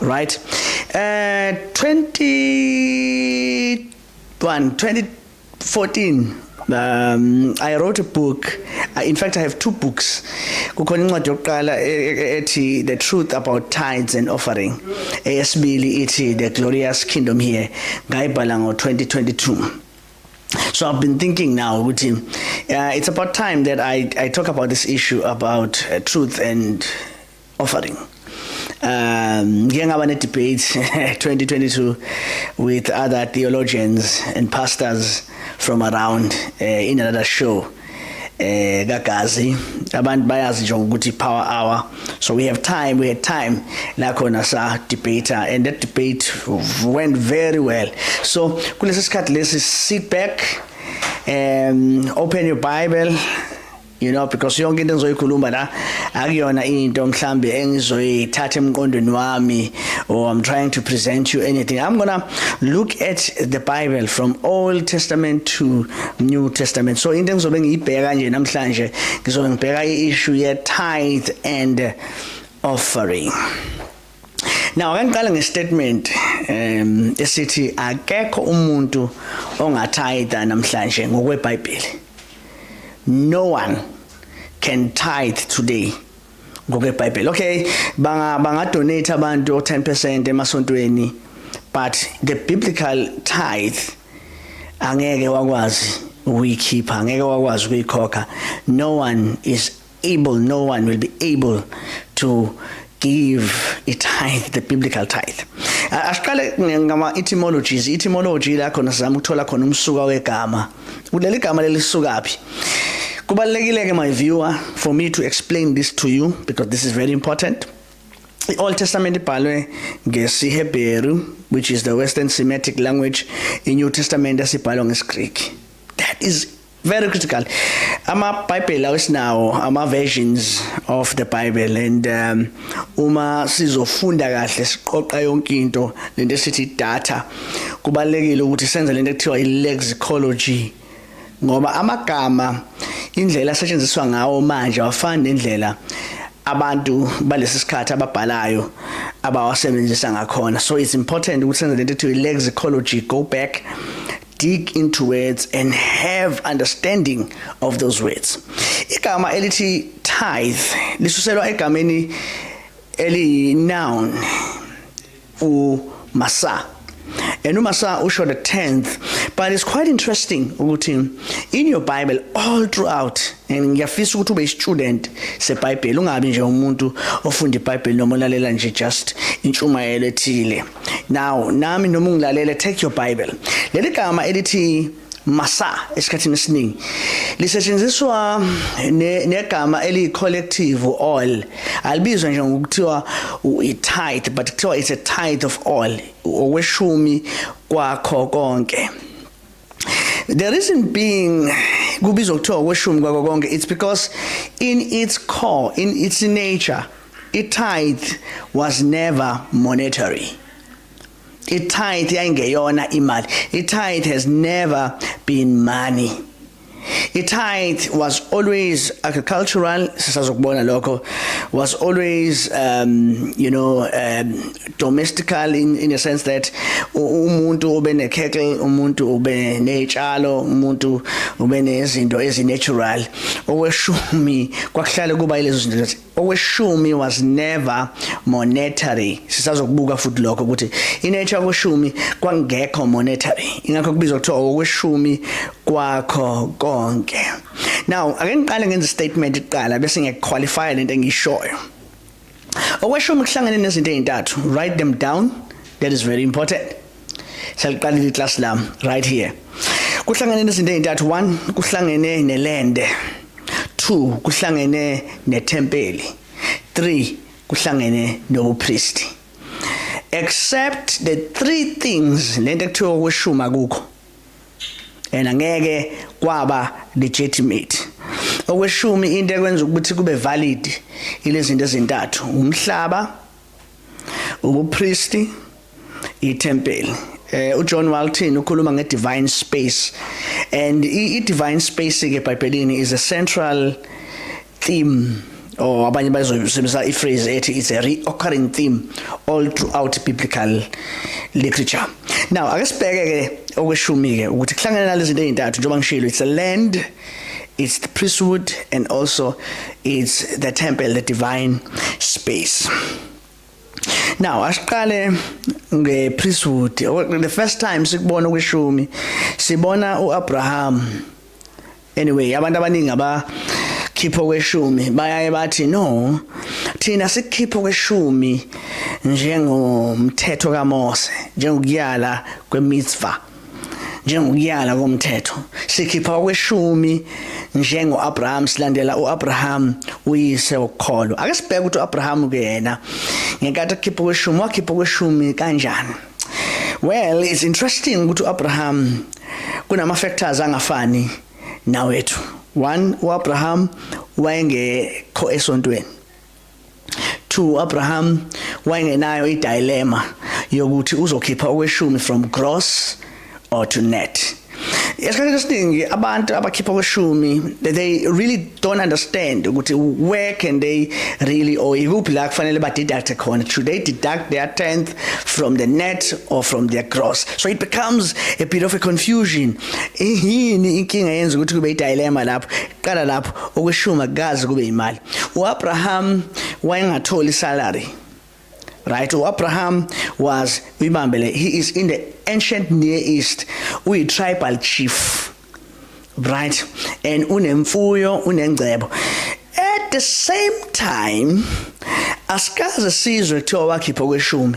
right eh 20 2014 um i wrote a book uh, in fact i have two books kukhona incwadi yokuqala e, e, e, ethi the truth about tithes and offering eyesibili ithi the glorious kingdom here ngayibhala ngo 2022 So I've been thinking now, uh, it's about time that I, I talk about this issue about uh, truth and offering um ngike ngaba ne debate 2022 with other theologians and pastors from around uh, in another show eh kagazi abantu bayazi nje ukuthi power hour so we have time we had time la khona sa debater and that debate went very well so kulesi sikhathi lesi sit back um open your bible you know because yonke into engizoyikhuluma la akuyona into mhlambe engizoyithatha emqondweni wami or i'm trying to present you anything i'm going to look at the bible from old testament to new testament so into engizobe ngiyibheka nje namhlanje ngizobe ngibheka i-issue ye tithe and offering Now ake ngiqale ngestatement um esithi akekho umuntu ongathayitha namhlanje ngokweBhayibheli. No one can tithe today ngokweBhayibheli. Okay, banga banga donate abantu 10% emasontweni but the biblical tithe angeke wakwazi ukuyikhipha, angeke wakwazi ukuyikhokha. No one is able no one will be able to give a tithe the biblical tithe asiqale ngama etymologies etymology la khona sizama ukuthola khona umsuka wegama kuleli gama lelisukaphi kubalekile ke my viewer for me to explain this to you because this is very important i-old testament ibhalwe ngesihebheru which is the western semitic language i-new testament asibhalwa ngesgreek that is very critical amabhayibheli awesinawo ama-versions of the bible and um, uma sizofunda kahle siqoqa yonke into le nto esithi data kubalulekile ukuthi senze le nto ekuthiwa i-lexicology ngoba amagama indlela asetshenziswa ngawo manje awafani nendlela abantu balesi sikhathi ababhalayo abawasebenzisa ngakhona so it's important ukuthi senze le nto ekuthiwa i-lexicology go back dig into words and have understanding of those words igama elithi tithe lisuselwa egameni eli noun u masa and umasa usho the 10th but it's quite interesting ukuthi in your bible all throughout and ngiyafisa ukuthi ube student seBhayibheli ungabi nje umuntu ofunda iBhayibheli noma ulalela nje just intshumayelo ethile now nami noma ungilalele take your bible leli gama elithi masa esikhathini esiningi lisetshenziswa negama ne eli collective all alibizwa nje ngokuthiwa i tithe but kuthiwa it's a tithe of all okweshumi kwakho konke The reason being kubizwa kuthiwa okweshumi kwako konke it's because in its core in its nature i-tithe was never monetary i-tithe yayingeyona imali i-tithe has never been money I-tithe was always agricultural, sisazokubona lokho, was always, um, you know, um, domestical in, in a sense that umuntu ube ne-cattle, umuntu ube ney'tshalo, umuntu ube nezinto ezi-natural. Okweshumi kwakuhlale kuba yilezo zinto Okweshumi was never monetary. Sisazokubuka futhi lokho ukuthi inature yokweshumi kwangekho monetary. Ingakho kubizwa kuthiwa okweshumi kwakho konke. Now ake ngiqale ngenze statement iqala bese ngiyaqualify lento engishoyo. Okweshumi kuhlangene nezinto ezintathu. Write them down. That is very important. Seliqalile iclass lam right here. Kuhlangene nezinto ezintathu 1 kuhlangene nelende 2 kuhlangene nethempeli 3 kuhlangene nobupristi. Except the three things lento ekuthiwa kweshuma kukho. And angeke kwaba legitimate. Okweshumi into ekwenza ukuthi kube valid ilezinto ezintathu umhlaba ubupristi ithempeli eh uJohn Walton ukhuluma ngedivine space and i-divine space ke eBhayibhelini is a central theme or abanye bazoyisebenzisa iphrase ethi it's a reoccurring theme all throughout biblical literature now ake sibheke ke okweshumi ke ukuthi kuhlangene nalezi zinto ezintathu njengoba ngishilo it's a land It's the priesthood and also it's the temple, the divine space. Now asiqale nge priesthood. The first time sikubona kwishumi sibona uAbraham. Anyway, abantu abaningi aba khipho kweshumi bayaye bathi no thina sikhipho kweshumi njengomthetho kaMose njengokuyala kwemitzvah njengokuyala komthetho sikhipha okweshumi njengoAbraham silandela uAbraham uyise wokukholwa ake sibheke ukuthi uAbraham ke yena ngenkathi ekhipha okweshumi wakhipha okweshumi kanjani well it's interesting ukuthi uAbraham kunama factors angafani nawethu one uAbraham wayengekho esontweni to Abraham wayengenayo idilemma yokuthi uzokhipha okweshumi from gross or to net esikhathini esiningi abantu abakhipha kweshumi they really don't understand ukuthi where can they really or ikuphi la kufanele ba deduct khona should they deduct their 10th from the net or from their gross so it becomes a bit of a confusion yini inkinga yenza ukuthi kube i dilemma lapho qala lapho okweshuma kazi kube imali uAbraham wayengatholi salary right uAbraham was uyibambele he is in the ancient near east uyi tribal chief right and unemfuyo unengcebo at the same time asikaze sizwe kuthiwa wakhipha kweshumi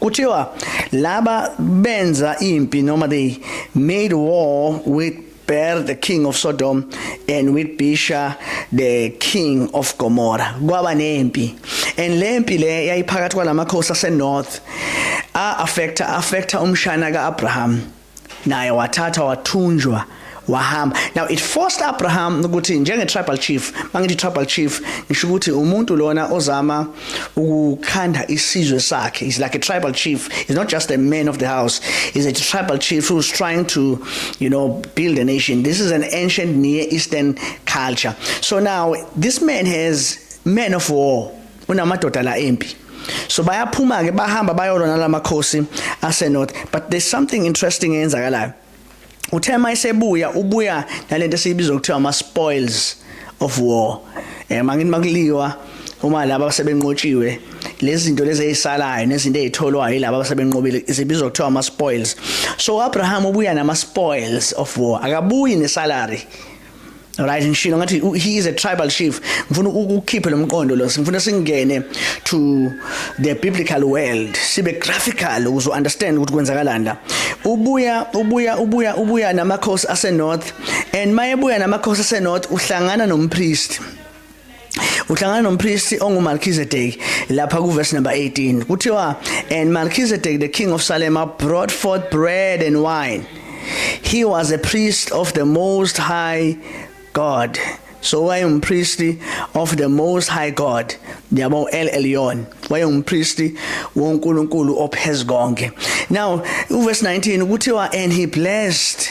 kuthiwa laba benza impi noma they made war with Ber the king of Sodom and with Bisha the king of Gomorrah kwaba nempi and lempi le yayiphakathi kwalamakhosi asenorth a affecta affecta umshana kaAbraham naye wathatha wathunjwa wahamba now it forced Abraham ukuthi njenge tribal chief mangithi tribal chief ngisho ukuthi umuntu lona ozama ukukhanda isizwe sakhe he's like a tribal chief he's not just a man of the house he's a tribal chief who's trying to you know build a nation this is an ancient near eastern culture so now this man has men of war unamadoda la empi so bayaphuma ke bahamba bayolwa nalamakhosi ase north but there's something interesting eyenzakalayo uthe uma esebuya ubuya nalento esiyibiza ukuthiwa ama spoils of war eh mangini makuliwa uma laba abasebenqotshiwe lezi zinto lezi ezisalayo nezinto ezitholwayo yilabo abasebenqobile zibizwa kuthiwa ama spoils so uAbraham ubuya nama spoils of war akabuyi ne salary right ngishilo ngathi he is a tribal chief ngifuna ukukhiphe lomqondo lo ngifuna singene to the biblical world sibe graphical uzo understand ukuthi kwenzakalani la ubuya ubuya ubuya ubuya namakhosi ase north and mayebuya namakhosi ase north uhlangana nompriest uhlangana nompristi onguMelchizedek lapha kuverse number 18 kuthiwa and Melchizedek the king of Salem brought forth bread and wine he was a priest of the most high God so wayengumpristi of the most high God yabo El Elyon wayengumpristi woNkulunkulu ophezu konke now uverse 19 kuthiwa and he blessed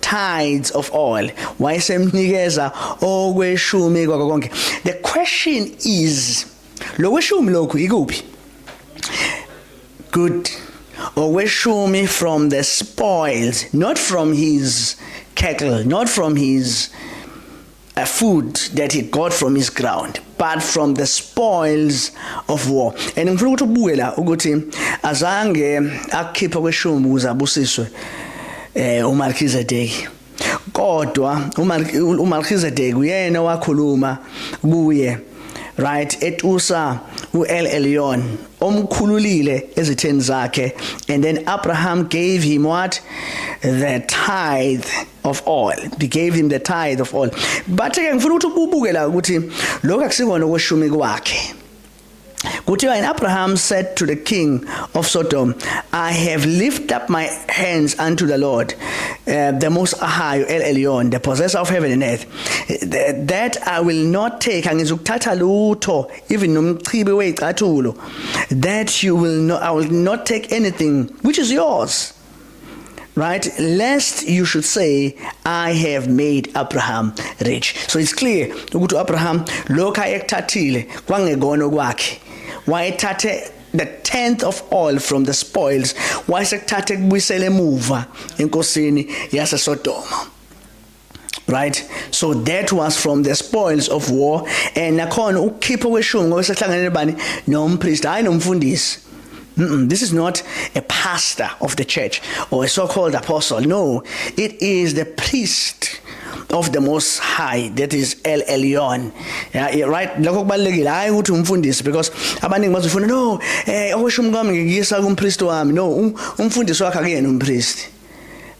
tithes of all wayesemnikeza okweshumi kwako konke the question is lokweshumi lokhu ikuphi good okweshumi from the spoils not from his cattle not from his a food that he got from his ground but from the spoils of war and ngifuna ukuthi ubuke la ukuthi azange akukhiphe kweshumbu ukuze abusiswe eh uMarkizedeki kodwa uMarkizedeki uyena wakhuluma kuye right etusa uEl Elyon omkhululile ezitheni zakhe and then Abraham gave him what the tithe of all they gave him the tithe of all but ke ngifuna ukuthi ububuke la ukuthi lokho akusikona okweshumi kwakhe kuthiwa and abraham said to the king of sodom i have lifted up my hands unto the lord uh, the most high el elyon the possessor of heaven and earth that i will not take angizukuthatha lutho even nomchibi weyicathulo that you will not i will not take anything which is yours right? Lest you should say I have made Abraham rich. So it's clear ukuthi Abraham lokho ayekuthathile kwangekona okwakhe. Wayethathe the 10th of all from the spoils wayesekuthathe kubuyisele emuva enkosini yase Sodoma. right so that was from the spoils of war and nakhona ukukhipha kweshumi ngoba sehlanganele bani nompriest hayi nomfundisi Mm -mm, this is not a pastor of the church or a so-called apostle. No, it is the priest of the most high that is El Elyon yeah, yeah, right lokho kubalekile hayi ukuthi umfundisi because abaningi bazofuna no eh okusho umkami ngiyisa kumpriest wami no um, umfundisi wakhe akuyena umpriest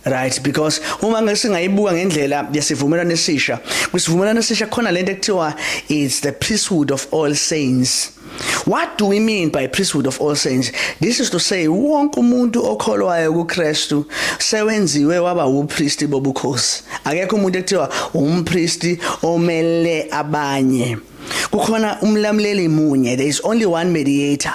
right because uma ngesingayibuka ngendlela yesivumelwano esisha kwisivumelwano esisha khona lento ekuthiwa it's the priesthood of all saints What do we mean by priesthood of all saints? This is to say wonke umuntu okholwayo kuKristu sewenziwe waba upriest bobukhosi. Akekho umuntu ekuthiwa umpriest omele abanye. Kukhona umlamleli munye, there is only one mediator.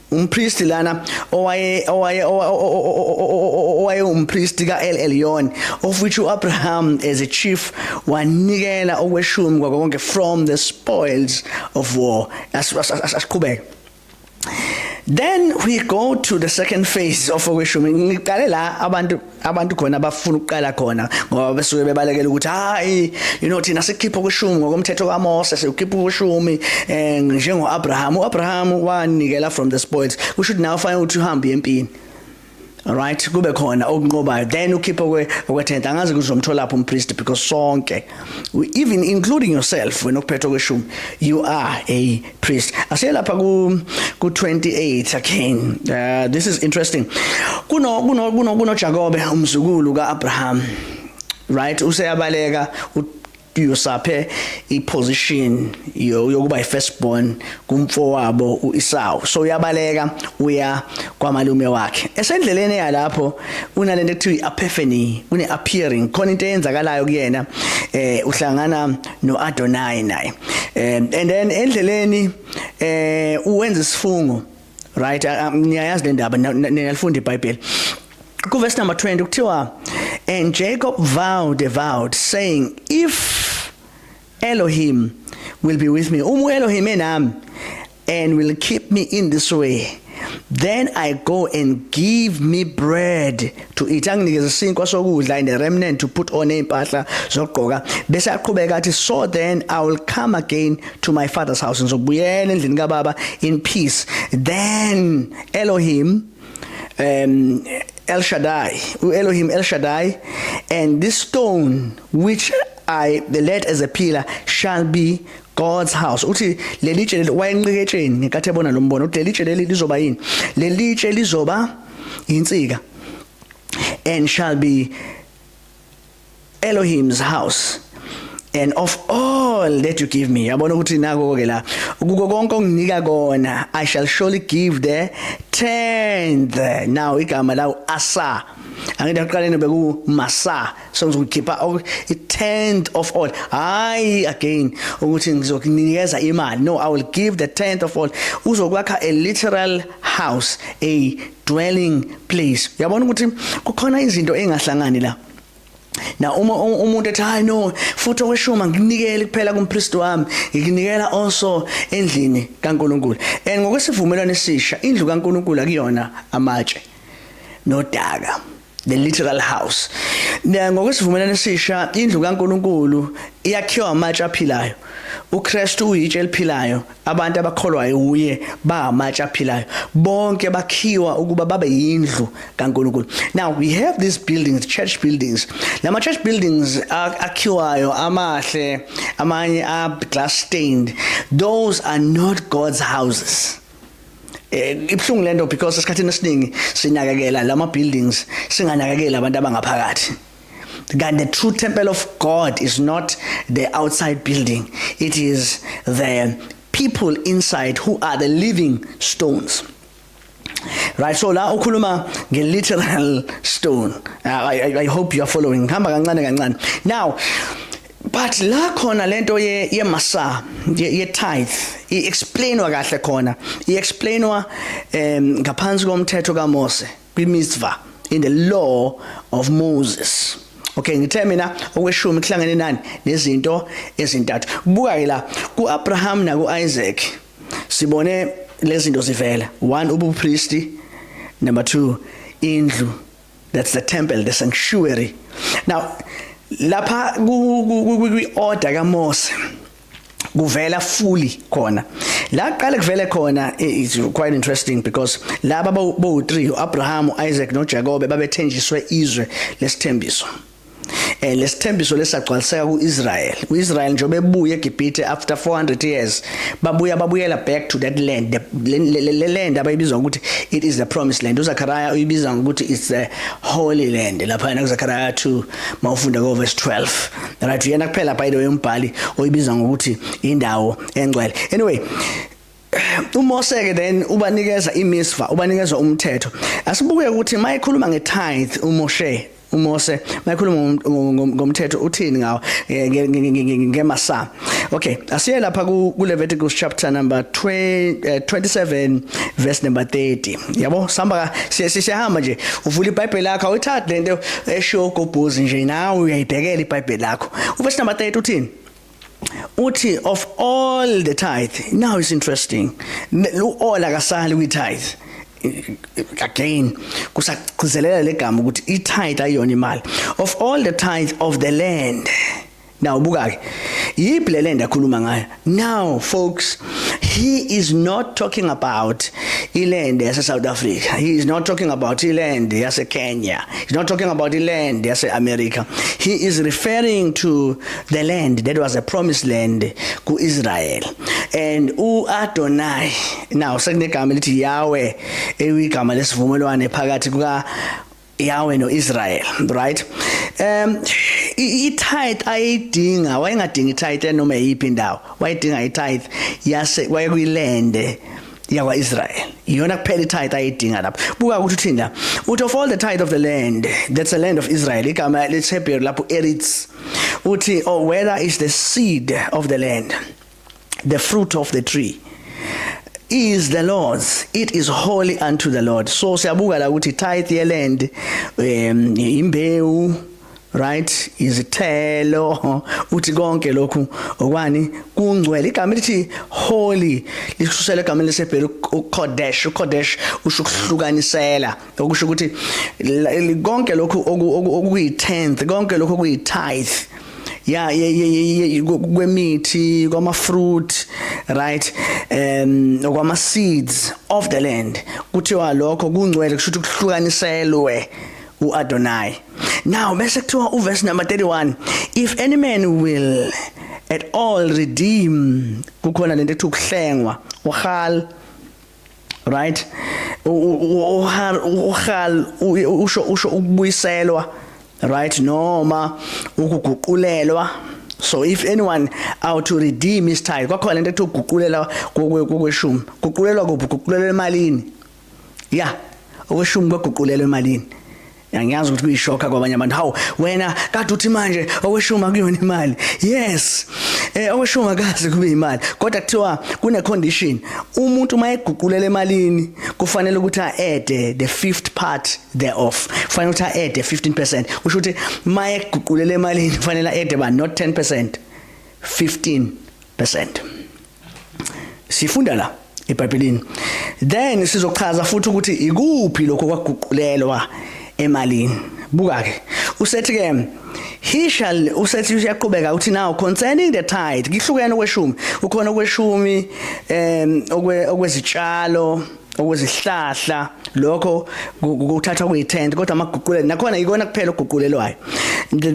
umpristi lana owaye owaye owaye umpristi kaEl Elyon of which uAbraham as a chief wanikela okweshumi kwakonke from the spoils of war asiqhubeke then we go to the second phase of okweshumi ngiqale la abantu abantu khona bafuna ukuqala khona ngoba besuke bebalekela ukuthi hayi you know thina sikhipha ukushumi ngokomthetho kaMose sikhipha ukushumi eh njengo Abraham uAbraham wanikela from the spoils kusho ukuthi nawe fanele ukuthi uhambe empini right kube khona okunqobayo then ukhiphe kwe okwethenta angazi kuzomthola lapho umpriest because sonke even including yourself wena okuphethe kweshumi you are a priest asiye lapha ku ku 28 again uh, this is interesting kuno kuno kuno kuno Jakobe umzukulu kaAbraham right useyabaleka uyosaphe iposition yokuba ifirst born kumfowabo uIsau so uyabaleka uya kwamalume wakhe esendleleni yalapho unalento ekuthiwa iAphefeni une appearing khona into eyenzakalayo kuyena eh uhlangana noAdonai naye um and then endleleni eh uwenza isifungo right niyayazi le ndaba niyalifunda iBhayibheli ku verse number 20 kuthiwa and Jacob vowed a vow saying if Elohim will be with me uma uElohim enami and will keep me in this way then i go and give me bread to eat anginikeze isinkwa sokudla and a remnant to put on impahla zokugqoka bese aqhubeka athi so then i will come again to my father's house ngizobuyela endlini kababa in peace then elohim um el shaddai uelohim el shaddai and this stone which i the led as a pillar shall be God's house uthi leli tshe leli wayenqiketsheni ngenkathi ebona lo mbono uthi leli tshe leli lizoba yini leli tshe lizoba yinsika and shall be Elohim's house and of all that you give me yabona ukuthi nako ke la kuko konke onginika kona i shall surely give the tenth now igama lawo asa angidaqaleni beku masa so ngizokukhipha i-tenth of all hayi again ukuthi ngizokunikeza imali no i will give the tenth of all uzokwakha a literal house a dwelling place uyabona ukuthi kukhona izinto engahlangani la na uma umuntu ethi hayi no futhi okweshuma nginikele kuphela kumpriest wami nginikela also endlini kaNkuluNkulu and ngokwesivumelwano esisha indlu kaNkuluNkulu akuyona amatshe nodaka the literal house ngokwesivumelwano esisha indlu kaNkuluNkulu iyakhiwa amatshe aphilayo uKristu uyitshe eliphilayo abantu abakholwayo uye bangamatshe aphilayo bonke bakhiwa ukuba babe yindlu kaNkuluNkulu now we have these buildings church buildings lama church buildings akhiwayo amahle amanye a glass stained those are not God's houses eh ibhlungu lento because esikhathini esiningi sinakekela lama buildings singanakekela abantu abangaphakathi that the true temple of God is not the outside building it is the people inside who are the living stones right so la ukhuluma nge literal stone uh, I, I, I hope you are following hamba kancane kancane now but la khona lento ye yemasa ye tithe i explainwa kahle khona i explainwa um ngaphansi komthetho kaMose kwimizwa in the law of Moses okay ngithe mina okweshumi kuhlangene nani nezinto ezintathu buka ke la kuAbraham na kuIsaac sibone lezinto zivela one ubupristi number 2 indlu that's the temple the sanctuary now lapha kwi order kaMose kuvela fully khona la qale kuvele khona eh, it's quite interesting because laba bo 3 uAbraham uIsaac noJakobe babethenjiswe izwe lesithembiso eh lesithembiso lesagcwaliseka kuIsrael uIsrael njengoba ebuye eGibhithe after 400 years babuya babuyela back to that land le land abayibiza ukuthi it is the promised land uZakaraya uyibiza ukuthi it's the holy land lapha yena kuZakaraya 2 mawufunda ko verse 12 right uyena kuphela by the way umbhali oyibiza ngokuthi indawo engcwele anyway uMose ke then ubanikeza imisva ubanikeza umthetho asibuke ukuthi mayikhuluma ngetithe uMoshe uMose mayikhuluma ngomthetho uthini ngawo ngemasa okay asiye lapha ku Leviticus chapter number 27 eh, verse number 30 yabo samba siyahamba nje uvula iBhayibheli lakho awuyithathi lento esho gobhozi nje nawe uyayibhekela iBhayibheli lakho uverse number 30 uthini uthi of all the tithe now it's interesting all akasali kwi tithe again kusagcizelela legama ukuthi i tithe ayona imali of all the tithe of the land now buka ke yiphi le land akhuluma ngayo now folks he is not talking about iland yase South Africa he is not talking about iland yase Kenya he's not talking about iland yase America he is referring to the land that was a promised land kuIsrael and uAdonai now sekunegama elithi Yahweh eyigama lesivumelwane phakathi kuka Yahweh noIsrael right um i-tithe ayidinga wayengadingi tithe noma yiphi indawo wayedinga i-tithe yase wayekuyilende yakwa-israyeli iyona kuphela itithe ayidinga lapho buka ukuthi uthini la uthi of all the tithe of the land that's the land of israel igama lesihebheru lapho eritz uthi or oh, whether is the seed of the land the fruit of the tree is the Lord's it is holy unto the Lord so siyabuka la ukuthi tithe yeland um imbewu right izithelo uthi konke lokhu okwani kungcwele igama elithi holy lishusela igama lesebhelu ukodesh ukodesh usho ukuhlukanisela okusho ukuthi konke lokhu okuyi 10th konke lokhu okuyi tithe ya kwemithi kwama fruit right um okwama seeds of the land kuthiwa lokho kungcwele kusho ukuthi kuhlukaniselwe uAdonai now bese kuthiwa uverse number 31 if any man will at all redeem kukhona lento ethi ukuhlengwa uhal right uhal uhal usho usho ukubuyiselwa right noma ukuguqulelwa so if anyone out to redeem his tithe kwakhona lento ethi ukuguqulela kokweshumi guqulelwa kuphi guqulela emalini ya okweshumi kwaguqulelwa emalini angiyazi ukuthi kuyishoka kwabanye abantu hawu wena kade uthi manje okweshuma kuyona imali yes eh okweshuma kaze kube imali kodwa kuthiwa kune condition umuntu uma eguqulela emalini kufanele ukuthi aede the fifth part thereof kufanele ukuthi aede 15% usho ukuthi uma eguqulela emalini kufanele aede ba not 10% 15% sifunda la eBhayibhelini then sizochaza futhi ukuthi ikuphi lokho kwaguqulelwa emalini buka ke usethi ke he shall usethi uyaqhubeka uthi now concerning the tithe ngihlukene okweshumi ukhona okweshumi em okwezitshalo okuzihlahla lokho kuthathwa kuyi-tent kodwa amaguqulelo nakhona yikona kuphela okuguqulelwayo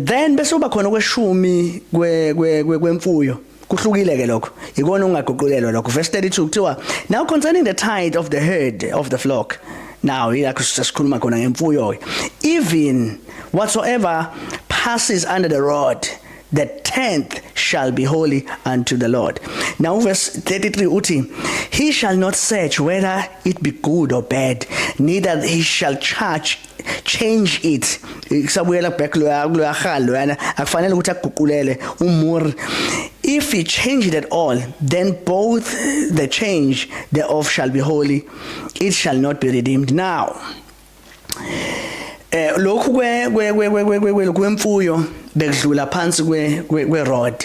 then bese uba khona kweshumi kwemfuyo kuhlukile ke lokho ikona ungaguqulelwa lokho verse 32 kuthiwa now concerning the tithe of the herd of the flock now yilakho sesikhuluma khona ngemfuyo even whatsoever passes under the rod the 10th shall be holy unto the Lord. Now verse 33 uthi he shall not search whether it be good or bad neither he shall charge change it kusabuyela back loya loya khal loyana akufanele ukuthi aguqulele umur if he change it at all then both the change thereof shall be holy it shall not be redeemed now eh lokhu kwe kwe kwe kwe kwemfuyo bekudlula phansi kwe kwe road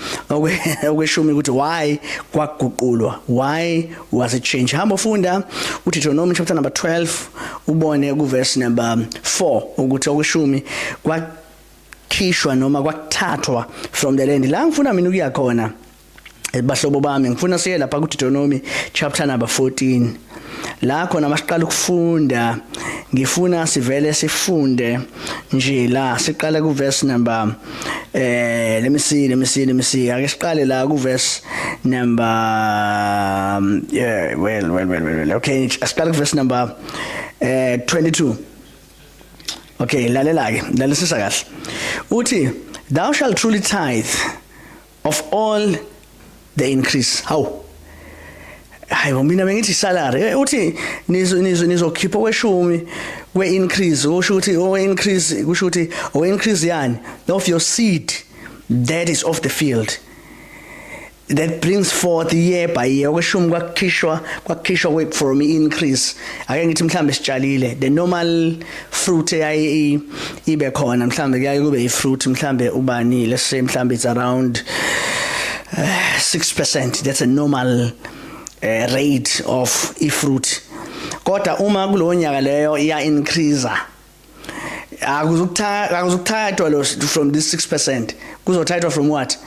okweshumi ukuthi why kwaguqulwa why was it changed hamba ufunda uDeuteronomy chapter number 12 ubone ku verse number 4 ukuthi okweshumi kwa khishwa noma kwathathwa from the land la ngifuna mina ukuya khona bahlobo bami ngifuna siye lapha ku Deuteronomy chapter number 14 la khona masiqala ukufunda ngifuna sivele sifunde nje la siqale ku verse number eh let me see let me see let me see ake siqale la ku verse number um, yeah well well well well okay siqale ku verse number eh 22 okay lalela ke lalisisa kahle uthi thou shall truly tithe of all the increase hawu hayi bo mina bengithi salary eh, uthi nizo nizo nizokhipha kweshumi kwe increase usho ukuthi o increase kusho ukuthi o increase yani of your seed that is off the field that brings forth year by year okweshumi kwakukhishwa kwakukhishwa from increase ake ngithi mhlambe sitshalile the normal fruit eyayi ibe khona mhlambe kuyaye kube i fruit mhlambe ubani let's say mhlambe it's around uh, eh, 6% that's a normal uh, rate of i fruit kodwa uma kulonyaka leyo iya increase akuzukuthatha akuzukuthathwa lo from this 6% kuzothathwa from what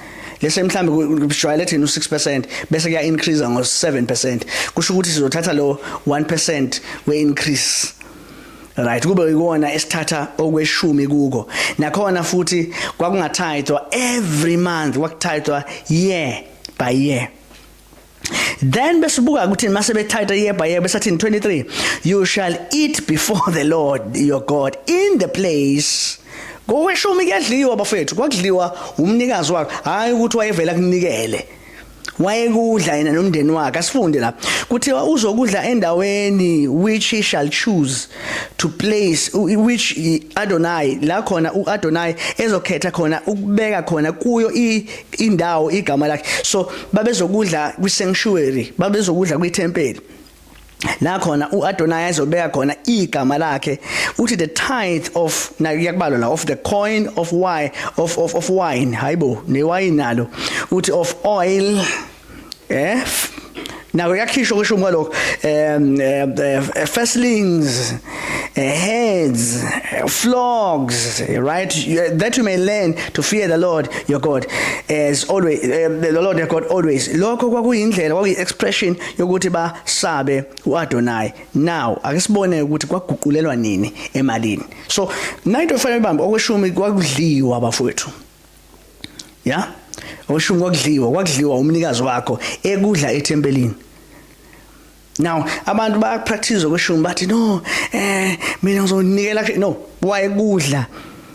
lese mhlambe kujwayele thina u6% bese kuya increase ngo 7% kusho ukuthi sizothatha lo 1% we increase right kube ikona esithatha okweshumi kuko nakhona futhi kwakungathayithwa every month kwakuthayithwa year by year then besibuka ukuthi mase bethatha yeba yeba sathi 23 you shall eat before the lord your god in the place koweshumi kuyadliwa bafethu kwakudliwa umnikazi wakho hayi ukuthi wayevela kunikele wayekudla yena nomndeni wakhe asifunde la kuthiwa uzokudla endaweni which he shall choose to place which Adonai la khona uAdonai ezokhetha khona ukubeka khona kuyo indawo igama lakhe so babezokudla kwi sanctuary babezokudla kwi temple la khona uAdonai ezobeka khona igama lakhe uthi the tithe of na kuyakubalwa la of the coin of wine of of of wine hayibo newayini nalo uthi of oil eh nako yakhishwa kusho kwalokho um eh, eh, eh, firstlings heads flogs right that you may learn to fear the Lord your God as always the Lord your God always lokho kwakuyindlela kwakuyi expression yokuthi basabe uAdonai now akisibone ukuthi kwaguqulelwa nini emalini so nayinto efanele bambe okweshumi kwakudliwa abafowethu ya yeah? oshumi kwakudliwa kwakudliwa umnikazi wakho ekudla ethempelini now abantu bayakupractice okweshumi bathi no eh mina ngizonikela no wayekudla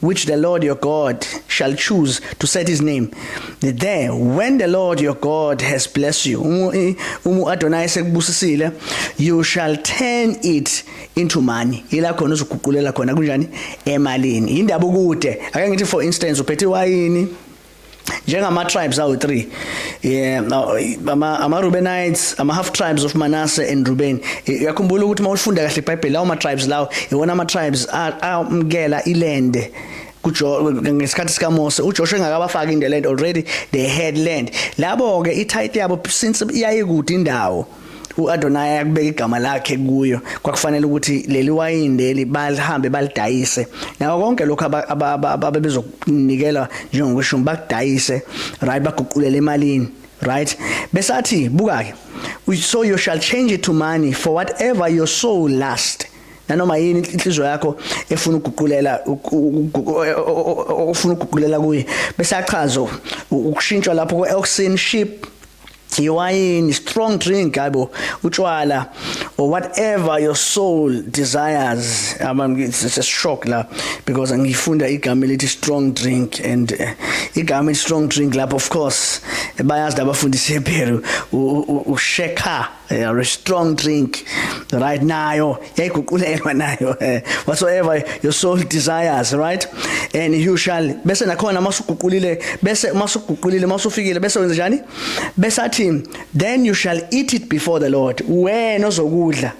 which the Lord your God shall choose to set his name there when the Lord your God has blessed you umu Adonai sekubusisile you shall turn it into money ila khona uzoguqulela khona kunjani emalini indaba ukude ake ngithi for instance uphethe wayini njengama-tribes awu-three yeah, ama-rubenites ama ama-half tribes of manasse and ruben uyakhumbula ukuthi uma ulifunda kahle ibhayibheli lawo ma-tribes lawo iwona ama-tribes amukela ilende ngesikhathi sikamose ujoshua engakabafaki into land already they had land labo-ke i-title yabo since iyayikude indawo uAdonaya kubeka igama lakhe kuyo kwakufanele ukuthi leli wayini leli balihambe balidayise nawo konke lokho ababezokunikela njengokweshumi bakudayise right baguqulele emalini right besathi buka ke so you shall change it to money for whatever your soul last nanoma yini inhliziyo yakho efuna ukuguqulela ofuna ukuguqulela kuye bese achazo ukushintshwa lapho kweoxin ship iwayini strong drink hayibo utshwala or whatever your soul desires i'm it's a shock la because ngifunda igama elithi strong drink and uh, igama strong drink lapho of course bayazi labafundisi ePeru usheka eh, a strong drink right nayo yayiguqulelwa nayo eh, whatsoever your soul desires right and you shall bese nakhona masuguqulile bese masuguqulile masufikile bese wenza njani bese athi then you shall eat it before the lord wena ozokudla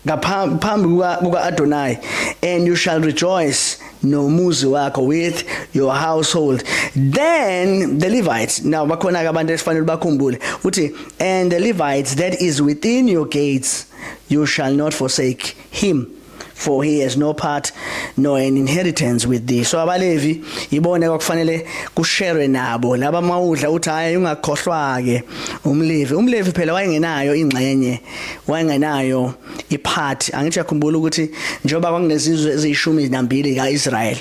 ngaphambi kuka-adonai and you shall rejoice nomuzi wakho with your household then the levites now bakhona-ke abantu esifanele bakhumbule uthi and the levites that is within your gates you shall not forsake him for he has no part nor an inheritance with thee so abalevi ibone kwakufanele kusherwe nabo laba mawudla uthi hayi ungakhohlwa ke umlevi umlevi phela wayengenayo ingxenye wayengenayo ipart angithi yakhumbula ukuthi njengoba kwakunezizwe ezishumi nambili kaIsrael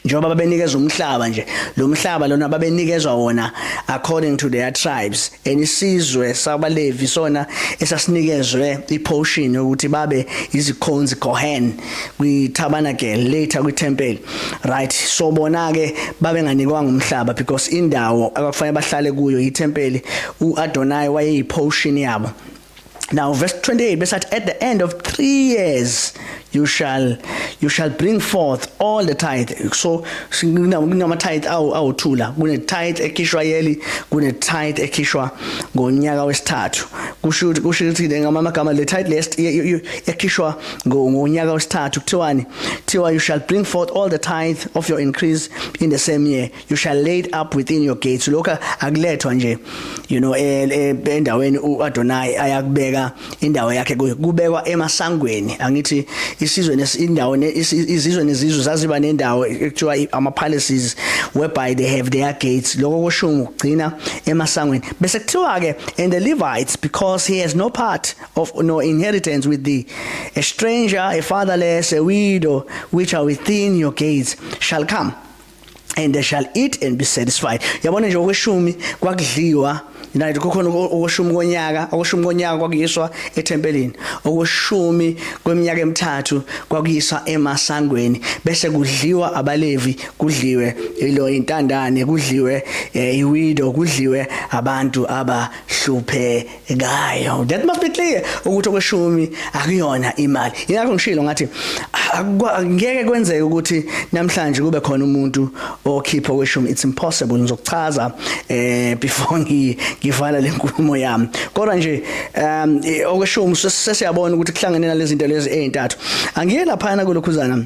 njengoba babenikezwa umhlaba nje lo mhlaba lona babenikezwa wona according to their tribes enisizwe sabalevi sona esasinikezwe iportion ukuthi babe izikhonzi kohen kwitabernacle later kwitempeli right so bona ke babenganikwanga umhlaba because indawo abakufanele bahlale kuyo itempeli uAdonai wayeyiportion yabo Now verse 28 bese athi at the end of 3 years you shall you shall bring forth all the tithe so kunama tithe awu awuthula kune tithe ekhishwa yeli kune tithe ekhishwa ngonyaka wesithathu kusho kusho ukuthi ngama magama le tithe list yakhishwa ngonyaka wesithathu kuthiwani kuthiwa you shall bring forth all the tithe of your increase in the same year you shall laid up within your gates lokho akulethwa nje you know eh, eh, endaweni uAdonai ayakubeka indawo yakhe kubekwa emasangweni angithi isizwe nesindawo izizwe nezizwe zaziba nendawo ekuthiwa ama palaces whereby they have their gates lokho kusho ukugcina emasangweni bese kuthiwa ke and the Levites because he has no part of no inheritance with thee a stranger a fatherless a widow which are within your gates shall come and they shall eat and be satisfied yabona nje okweshumi kwakudliwa nathi kukhona okweshumi konyaka okweshumi konyaka kwakuyiswa ethempelini okweshumi kweminyaka emithathu kwakuyiswa emasangweni bese kudliwa abalevi kudliwe ilo intandane kudliwe eh, iwido kudliwe abantu abahluphekile ngayo that must be clear ukuthi okweshumi akuyona imali ingakho ngishilo ngathi ngeke kwenzeke ukuthi namhlanje kube khona umuntu okhipha okweshumi it's impossible ngizokuchaza eh before ngivala lenkulumo yami kodwa nje um okweshumi sesiyabona ukuthi kuhlangene nalezi zinto lezi ezintathu angiye lapha na kulokhuzana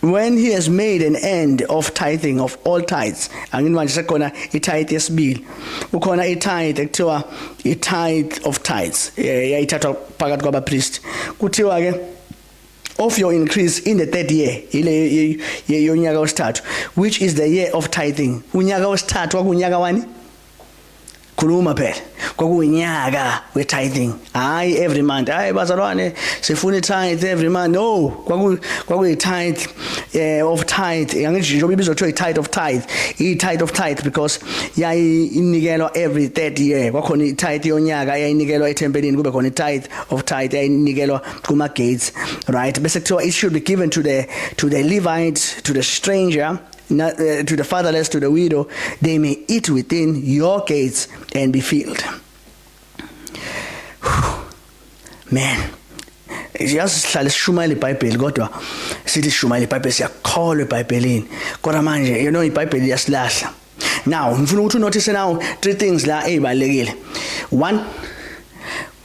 when he has made an end of tithing of all tithes angini manje sekhona itithe yesibili ukhona itithe ekuthiwa itithe of tithes eh, yayithathwa phakathi kwabapriest kuthiwa ke of your increase in the third year ile yonyaka wesithathu which is the year of tithing unyaka wesithathu wakunyaka wani khuluma phela kwakuyinyaka we tithing hayi every month hayi bazalwane sifuna tithe every month no kwaku kwakuyi tithe eh of tithe yangithi njengoba ibizwa kuthiwa tithe of tithe i tithe of tithe because yayi inikelwa every 30 year kwakhona i tithe yonyaka yayinikelwa ethempelini kube khona i tithe of tithe yayinikelwa kuma gates right bese kuthiwa it should be given to the to the levite to the stranger Not, uh, eh, to the fatherless, to the widow, they may eat within your gates and be filled. Man. yazi sihlale sishumayela ibhayibheli kodwa sithi sishumayela ibhayibheli siyakholwa ebhayibhelini kodwa manje you know ibhayibheli liyasilahla now ngifuna ukuthi unothise now three things la ezibalekile one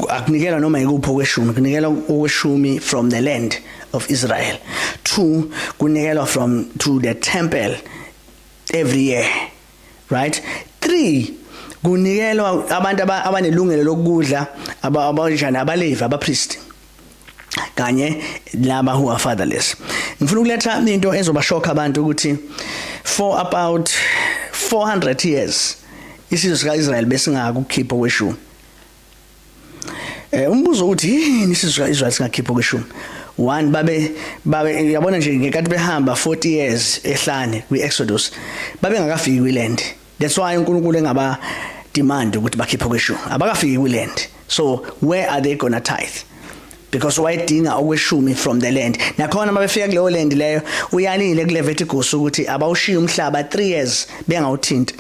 akunikela noma yikuphi okweshumi kunikela okweshumi from the land of Israel two kunikelwa from to the temple every year right three kunikelwa abantu abanelungelo lokudla abanjani abalevi abapriest kanye laba who are fatherless ngifuna ukuletha into ezobashokha abantu ukuthi for about 400 years isizwe sikaIsrael besingakukhipha kweshumi Eh umbuzo uthi yini sizwa izwa singakhipha kweshumi one babe babe yabona nje ngekati behamba 40 years ehlane kwi Exodus babe ngakafiki kwiland that's why uNkulunkulu engaba demand ukuthi bakhiphe kweshu abakafiki kwiland so where are they gonna tithe because wayedinga okweshumi from the land nakhona uma befika kuleyo land leyo uyalile kule vertigus ukuthi abawushiya umhlaba 3 years bengawuthinti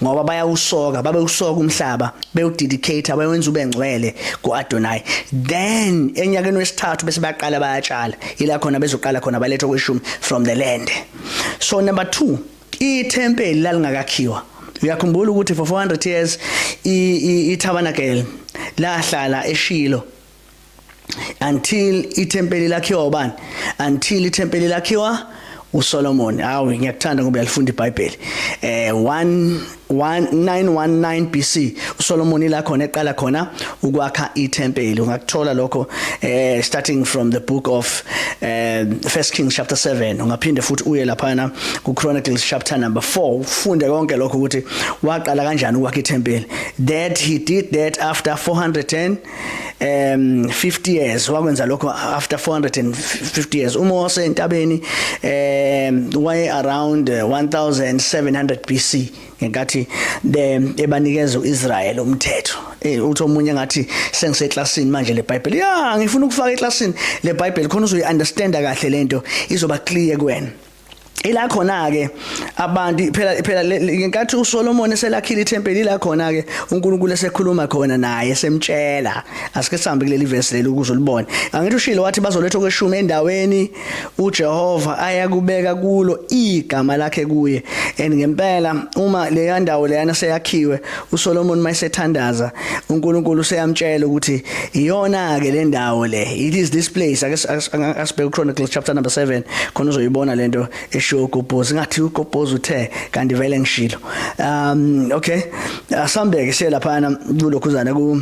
ngoba bayawusoka babe usoka umhlaba bewudedicate bayenza ube ngcwele kuAdonai then enyakeni wesithathu bese baqala bayatshala ila khona bezoqala khona balethe okweshumi from the land so number 2 ithempeli lalingakakhiwa uyakhumbula ukuthi for 400 years i, i, i tabernacle lahlala eshilo until ithempeli lakhiwa ubani until ithempeli lakhiwa uSolomon awu ngiyakuthanda ngoba uyalifunda iBhayibheli eh 1919 BC uSolomon ila khona eqala khona ukwakha ithempeli ungakuthola lokho eh starting from the book of eh First Kings chapter 7 ungaphinde futhi uye lapha na ku Chronicles chapter number 4 ufunde konke lokho ukuthi waqala kanjani ukwakha ithempeli that he did that after 410 um 50 years wakwenza lokho after 450 years uma wase entabeni um waye around 1700 uh, BC ngenkathi ebanikeza uIsrael umthetho eh uthi omunye ngathi sengiseclassini manje le Bible ya ngifuna ukufaka eclassini le Bible khona uzoyi understand kahle lento izoba clear kuwena ila khona ke abantu phela phela ngenkathi uSolomon eselakhile ithempeli la khona ke uNkulunkulu esekhuluma khona naye semtshela asike sihambe kuleli verse leli ukuze ulibone angithi ushilo wathi bazoletha kweshumi endaweni uJehova ayakubeka kulo igama lakhe kuye and ngempela uma leya ndawo leyana seyakhiwe uSolomon mayesethandaza uNkulunkulu useyamtshela ukuthi iyona ke le ndawo le it is this place asibheke Chronicles chapter number 7 khona uzoyibona lento eshiwo uGobhozi ngathi uGobhozi uthe kanti vele ngishilo um okay asambeke siyelapha na kulokhu zana ku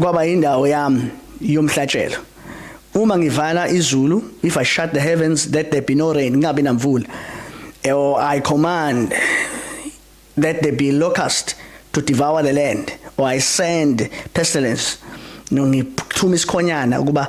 kwaba indawo yami yomhlatshelo uma ngivala izulu if i shut the heavens that there be no rain ngabe namvula or i command that there be locust to devour the land or i send pestilence no ngithuma isikhonyana ukuba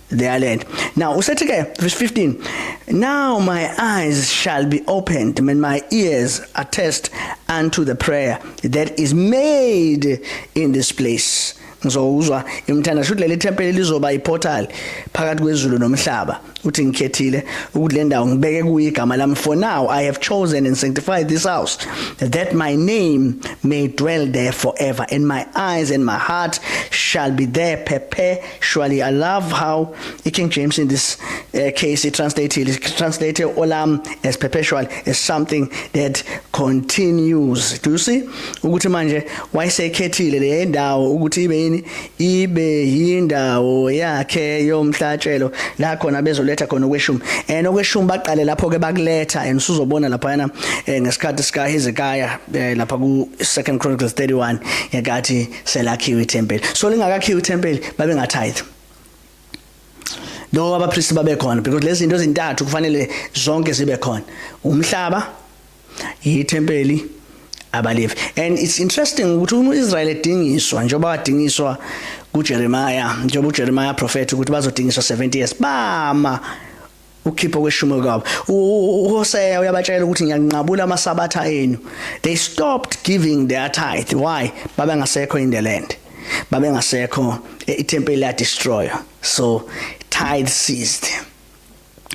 their land. Now, Usetike, verse 15. Now my eyes shall be opened, and my ears attest unto the prayer that is made in this place. ngizowuzwa imthanda shuthi leli tempeli lizoba iportal phakathi kwezulu nomhlaba uthi ngikhethile ukuthi le ndawo ngibeke kuyo igama lami for now i have chosen and sanctified this house that my name may dwell there forever and my eyes and my heart shall be there prepare Surely, I love how the King James in this uh, case it translated it translated olam as perpetual as something that continues. Do you see? Ukuthi manje wayesekhethile le ndawo ukuthi ibe yini ibe yindawo yakhe yomhlatshelo la khona bezoletha khona okweshumi. And okweshumi baqale lapho ke bakuletha and usuzobona lapha yana eh, ngesikhathi sika Hezekiah eh, lapha ku 2 Chronicles 31 yakathi selakhiwe ithempeli so lingakakhiwe ithempeli babe ngatithe lokho abapristi babekhona because lezi zinto ezintathu kufanele zonke zibe khona umhlaba yithempeli abalevi and it's interesting ukuthi uma uIsrael edingiswa njengoba wadingiswa kuJeremiah njengoba uJeremiah prophet ukuthi bazodingiswa 70 years bama ukhipha okweshumo kwabo uHoseya uyabatshela ukuthi ngiyanqabula amasabatha enu they stopped giving their tithe why babengasekho in the land babengasekho ithempeli la destroyer so tithe ceased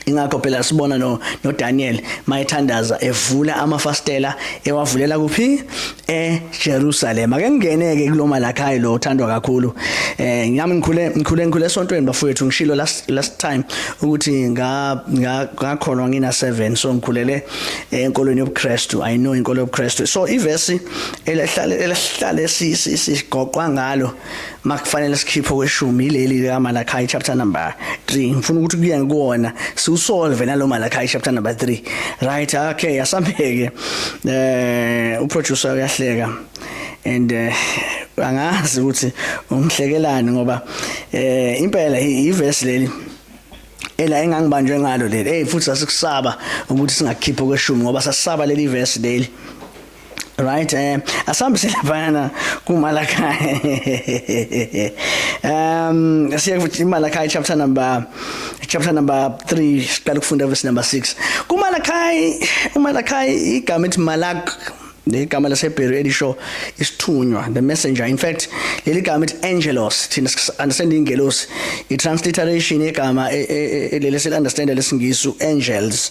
ingakho phela sibona no, no Daniel mayethandaza evula amafastela ewavulela kuphi eJerusalem ake ngingeneke kuloma lakhayi lo uthandwa kakhulu eh ngami ngikhule ngikhule ngikhule esontweni bafowethu ngishilo last last time ukuthi nga ngakholwa ngina 7 so ngikhulele eh, enkolweni yobuKristu i know inkolo yobuKristu so ivesi elihlale elihlale sigoqwa ngalo makufanele sikhiphe kweshumi ileli lika Malachi chapter number 3 ngifuna ukuthi kuye ngikona siusolve nalo Malachi chapter number 3 right okay asambeke eh u producer uyahleka and eh, angazi ukuthi umhlekelani ngoba eh impela iverse leli ela engangibanjwe ngalo leli hey futhi sasikusaba ukuthi singakhipha kweshumi ngoba sasaba leli verse leli right eh asambise laphana kumalakhaya um siya kuthi imalakhaya chapter number chapter number 3 siqala ukufunda verse number 6 kumalakhaya umalakhaya igama ethi malak igama laseBheri elisho isithunywa the messenger in fact leli gama ethi angelos thina understand ingelosi i transliteration yegama e, e, e, leli sel understand lesingisi angels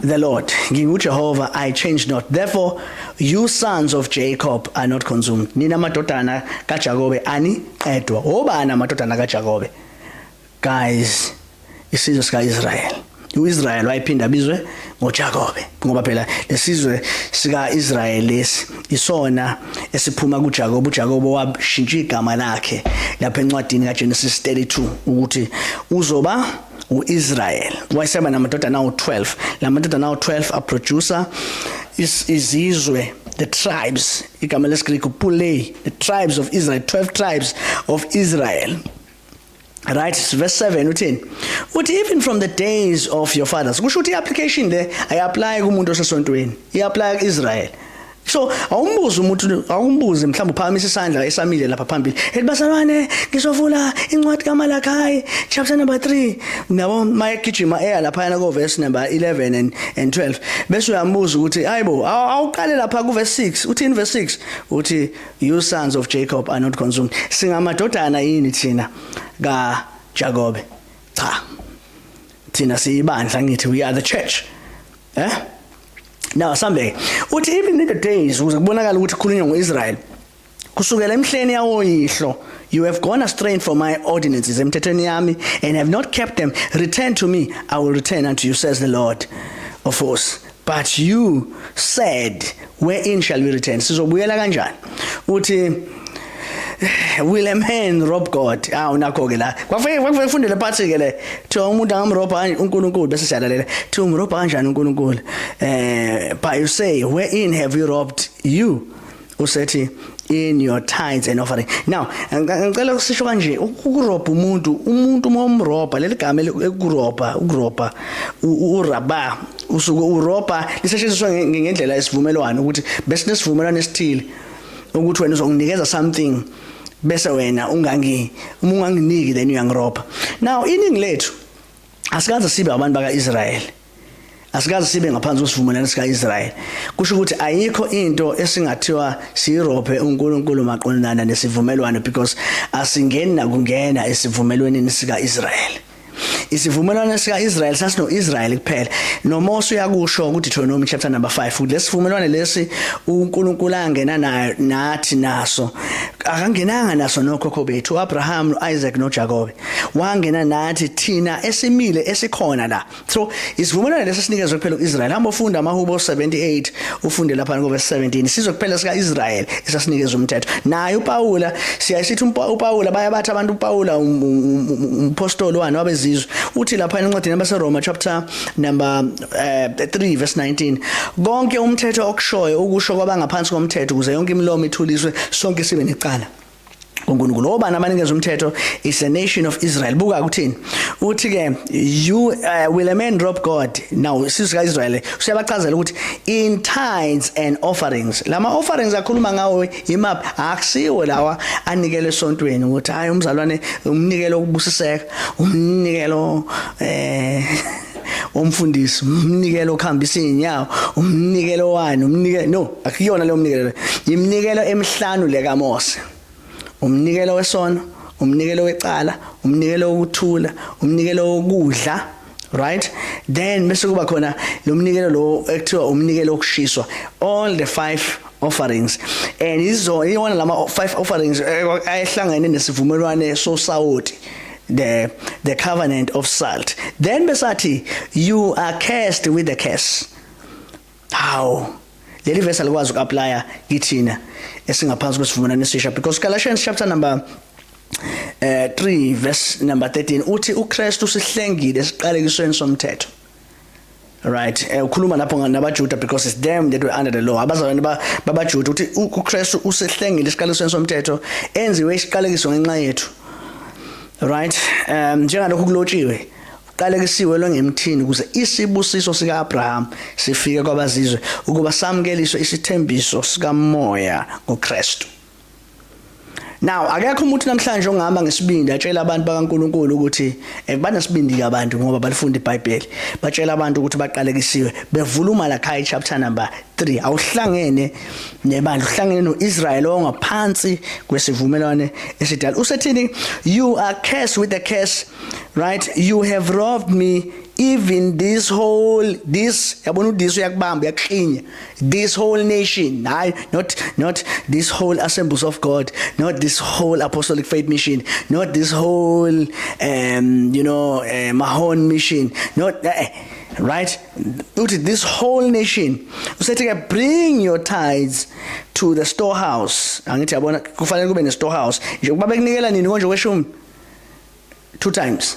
The Lord, nginguJehova, I change not. Therefore, you sons of Jacob are not consumed. Nina madodana kaJakobe aniqedwa. Obani amadodana kaJakobe? Guys, isizwe sikaIsrael. uIsrael wayephinda bizwe ngoJakobe ngoba phela lesizwe sikaIsrael lesi isona esiphuma kuJakobe uJakobe washintsha igama lakhe lapha encwadini kaGenesis 32 ukuthi uzoba uIsrael wayeseba namadodana awu12 lamadodana awu12 aproducer izizwe the tribes igama lesiGreek pulei the tribes of Israel 12 tribes of Israel right verse 7 uthini uthi even from the days of your fathers kusho ukuthi iapplication le ayiapply kumuntu osesontweni iapply kuIsrael so awumbuze umuntu awumbuze mhlawumbe uphakamisa isandla esamile lapha phambili ethi basalwane ngizovula incwadi kaMalakai chapter number 3 nabo mayegijima eya lapha yana ko verse number 11 and and 12 bese uyambuza ukuthi hayibo awuqale lapha ku verse 6 uthi in verse 6 uthi you sons of Jacob are not consumed singamadodana yini thina ka Jacob cha thina siyibandla ngithi we are the church eh now sambe uthi even in the days ukuze kubonakala ukuthi khulunywa ngoIsrael kusukela emhleni yawoyihlo you have gone astray from my ordinances emthethweni yami and have not kept them return to me i will return unto you says the lord of force but you said wherein shall we return sizobuyela kanjani uthi will a man rob god awu nakho ke la kwakufanele kwakufanele ufundele phansi ke le thiwa umuntu angamrobha uNkulunkulu bese siyalalela thiwa umrobha kanjani uNkulunkulu eh but you say where in have you robbed you usethi in your tithes and offering now ngicela ukusisho kanje ukurobha umuntu umuntu uma umrobha leli gama elikurobha ukurobha uraba usuke urobha lisetshenziswa ngendlela esivumelwano ukuthi bese nesivumelwano esithile ukuthi wena uzonginikeza something bese wena ungangi uma unganginiki then uyangiroba now iningi lethu asikaze sibe abantu baka-israyeli asikaze sibe ngaphansi kwesivumelwano sika-israyeli kusho ukuthi ayikho into esingathiwa siyirobhe unkulunkulu maqondana nesivumelwano because asingeni nakungena esivumelwaneni sika-israyeli isivumelwano sika-israyeli sasino-israyeli kuphela nomose uyakusho kudeuteronomi chapter number 5 ukuthi lesivumelwane lesi unkulunkulu angena nayo nathi naso akangenanga naso nokhokho bethu u-abraham no-isaac nojakobe wangena nathi thina esimile esikhona la so isivumelwane lesi sinikezwe kuphela u-israyeli hamba ofunda amahubo 78 ufunde lapha ngoba 17 sizwe kuphela sika Israel esasinikeza umthetho naye uPawula siyayisithi uPawula bayabatha abantu uPawula um, um, um, umpostoli wani wabezizwe uthi lapha encwadini yabase Roma chapter number 3 eh, verse 19 konke umthetho okushoyo ukusho kwabangaphansi komthetho kuze yonke imilomo ithuliswe sonke sibe necala uNkulunkulu obani abanikeza umthetho is a nation of Israel buka kuthini uthi ke you uh, will a man drop God now sisi kaIsrael usiyabachazela ukuthi in tithes and offerings lama offerings akhuluma ngawo imap akusiwe lawa anikele esontweni ukuthi hayi umzalwane umnikelo ukubusiseka umnikelo eh womfundisi umnikelo okhambisa izinyawo umnikelo wani umnikelo no akuyona leyo mnikelo iminikelo emihlanu le kaMose umnikelo wesono umnikelo wecala umnikelo wokuthula umnikelo wokudla right then bese kuba khona lo mnikelo lo ekuthiwa umnikelo wokushiswa all the five offerings and izo iwona lama five offerings eh, ayehlangene nesivumelwane sosawoti the the covenant of salt then besathi you are cursed with the curse how leli verse alikwazi ukuapply kithina esingaphansi kwesivumelwano esisha because Galatians chapter number eh 3 verse number 13 uthi uKristu sihlengile siqalekisweni somthetho right eh, ukhuluma lapho nabaJuda because it's them that were under the law abazalwane babaJuda uthi uKristu usehlengile isiqalisweni somthetho enziwe isiqalekiso ngenxa yethu right um njengalokhu kulotshiwe qalekisiwe longemthini ukuze isibusiso sikaAbraham sifike kwabazizwe ukuba samkeliswe isithembiso sikamoya ngoKristu Now akekho umuntu namhlanje ongihamba ngesibindi atshela abantu bakaNkuluNkulu ukuthi eh, banesibindi ke abantu ngoba balifunda iBhayibheli. Batshela abantu ukuthi baqalekisiwe bevula uMalachi chapter number 3. Awuhlangene nebandla, uhlangene noIsrael ongaphansi kwesivumelwane esidala. Usethini you are cursed with a curse, right? You have robbed me even this whole this yabona udiso yakubamba yakukhinya this whole nation hayi not not this whole assemblies of god not this whole apostolic faith mission not this whole um you know uh, mahon mission not uh, right uthi this whole nation usethi ke bring your tithes to the storehouse angithi yabona kufanele kube ne storehouse nje kuba bekunikela nini konje kweshumi two times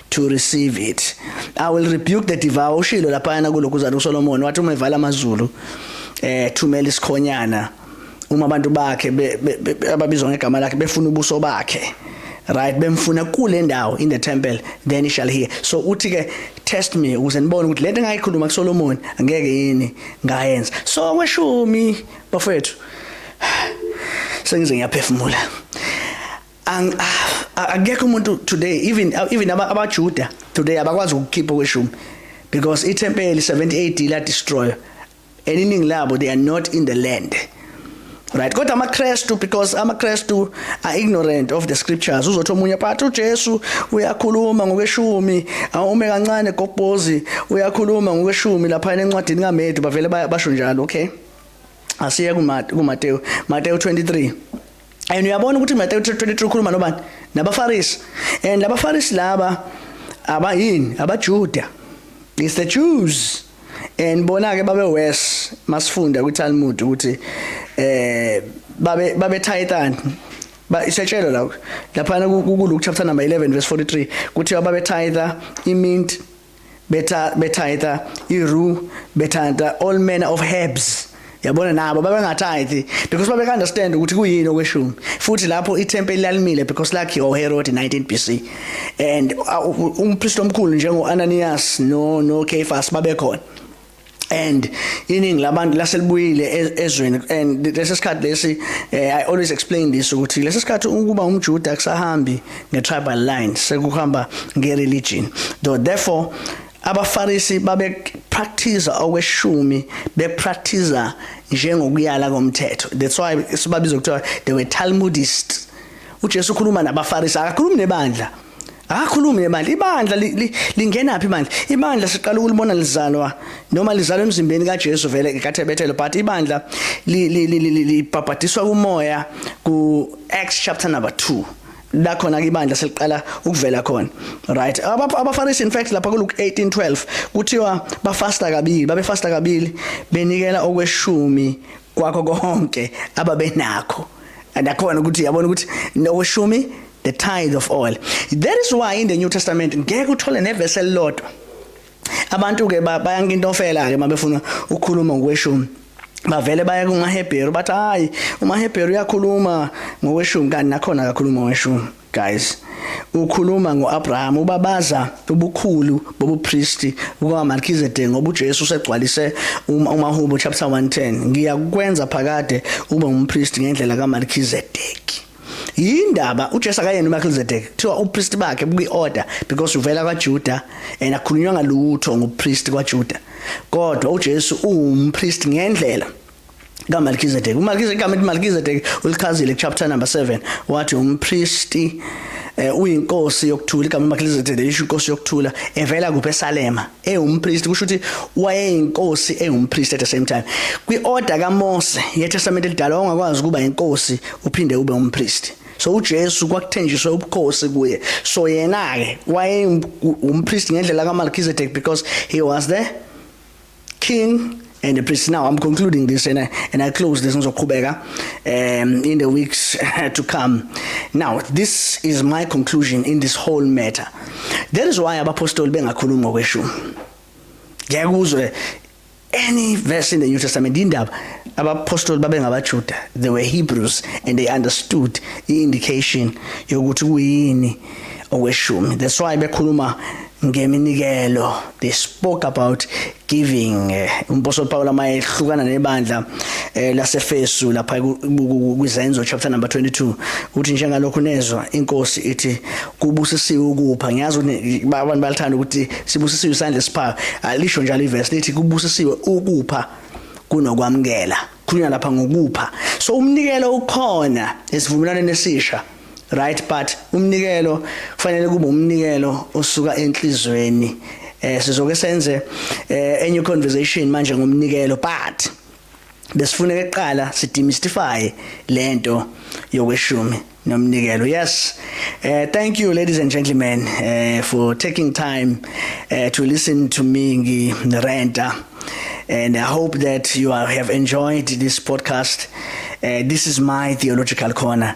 to receive it i will rebuke the devour ushilo laphayana kulokhu uzalo uSolomon wathi uma evala amazulu eh thumela isikhonyana uma abantu bakhe ababizwa ngegama lakhe befuna ubuso bakhe right bemfuna kule ndawo in the temple then he shall hear so uthi ke test me ukuze nibone ukuthi lento engayikhuluma kuSolomon angeke yini ngayenza so kweshumi bafethu sengize ngiyaphefumula ang ah, akekho umuntu today even even abajuda today abakwazi ukukhipha kweshumi because ithempeli 70 AD la destroy and iningi labo they are not in the land right kodwa amakrestu because amakrestu are ignorant of the scriptures uzothi omunye but uJesu uyakhuluma ngokweshumi awume kancane gobhozi uyakhuluma ngokweshumi lapha encwadini kaMedu bavele basho njalo okay asiye kuMateyu Mateyu 23 and uyabona ukuthi Matthew 23 ukhuluma nobani nabafarisi and labafarisi laba abayini abajuda it's the jews and bona ke babe worse masifunda kwi Talmud ukuthi eh babe babe tithani ba isetshelo la lapha ku Luke chapter number 11 verse 43 kuthi babe titha imint betitha iru betitha all manner of herbs yabona nabo babengathithi because babe understand ukuthi kuyini okweshumi futhi lapho ithempeli lalimile because lakhiwa uHerod 19 BC and uh, umpriest omkhulu njengo Ananias no no Caiaphas babekhona and iningi labantu laselibuyile e-, ezweni and lesi sikhathi lesi eh, i always explain this ukuthi lesi sikhathi ukuba umjuda kusahambi nge tribal line sekuhamba nge religion so therefore abafarisi babe practice okweshumi be practice njengokuyala komthetho that's why sibabiza ukuthi they were talmudists uJesu ukhuluma nabafarisi akakhulumi nebandla Akakhulumi nebandla. Ibandla lingena phi manje? Ibandla siqala ukulibona lizalwa noma lizalwa emzimbeni kaJesu vele kaThebethelo but ibandla libhabhadiswa kumoya ku Acts chapter number 2. la khona ke ibandla seliqala ukuvela khona right abafarisi in fact lapha ku Luke 18:12 kuthiwa bafasta kabili babefasta kabili benikela okweshumi kwakho konke ababenakho and akhona ukuthi yabona ukuthi nokweshumi the tithe of oil that is why in the new testament ngeke uthole nevesi elilodwa abantu ke bayanka into ofela ke mabefuna ukukhuluma ngokweshumi bavele baye kumahebheru bathi hayi umahebheru uyakhuluma ngokweshumi kanti nakhona akakhuluma ngokweshumi guys ukhuluma ngoAbraham ubabaza ubukhulu bobupristi bukaMelchizedek ngoba uJesu usegcwalise uma umahubo chapter 110 ngiyakwenza phakade ube umpristi ngendlela kaMelchizedek yindaba uJesu akayena uMelchizedek kuthiwa upriest bakhe buyi-order because uvela kwaJuda and akhulunywa ngalutho ngopriest kwaJuda kodwa uJesu uwumpriest ngendlela kaMelchizedek uMelchizedek igama ethi Melchizedek ulichazile chapter number 7 wathi umpristi eh, uyinkosi yokuthula igama uMelchizedek lisho inkosi yokuthula evela kuphi eSalema ewumpristi kusho ukuthi wayeyinkosi ewumpristi at the same time kwi-order kaMose yeTestament elidala wawungakwazi ukuba inkosi uphinde ube umpristi so uJesu kwakuthenjiswe ubukhosi kuye so yena ke waye umpriest ngendlela kaMelchizedek because he was the king and the priest now i'm concluding this and I, and i close this ngizoqhubeka um in the weeks to come now this is my conclusion in this whole matter that is why abapostoli bengakhulumi ngokweshumi ngiyakuzwe any verse in the new testament indaba abapostoli babengabajuda they were hebrews and they understood i indication yokuthi kuyini okweshumi that's why bekhuluma ngeminikelo they spoke about giving eh, umposo Paul amayehlukana nebandla eh, laseFesu lapha kwizenzo chapter number 22 uthi njengalokho nezwa inkosi ithi kubusisiwe ukupha ngiyazi ukuthi abantu balithanda ukuthi sibusisiwe isandla siphayo alisho njalo iverse lithi kubusisiwe ukupha kunokwamukela khulunywa lapha ngokupha so umnikelo ukhona esivumelwaneni esisha right but umnikelo kufanele kube umnikelo osuka enhlizweni eh sizoke senze eh, enye conversation manje ngomnikelo but besifuna eqala sidemystify lento yokweshumi nomnikelo yes uh, thank you ladies and gentlemen uh, for taking time uh, to listen to me ngi renta and i hope that you are, have enjoyed this podcast uh, this is my theological corner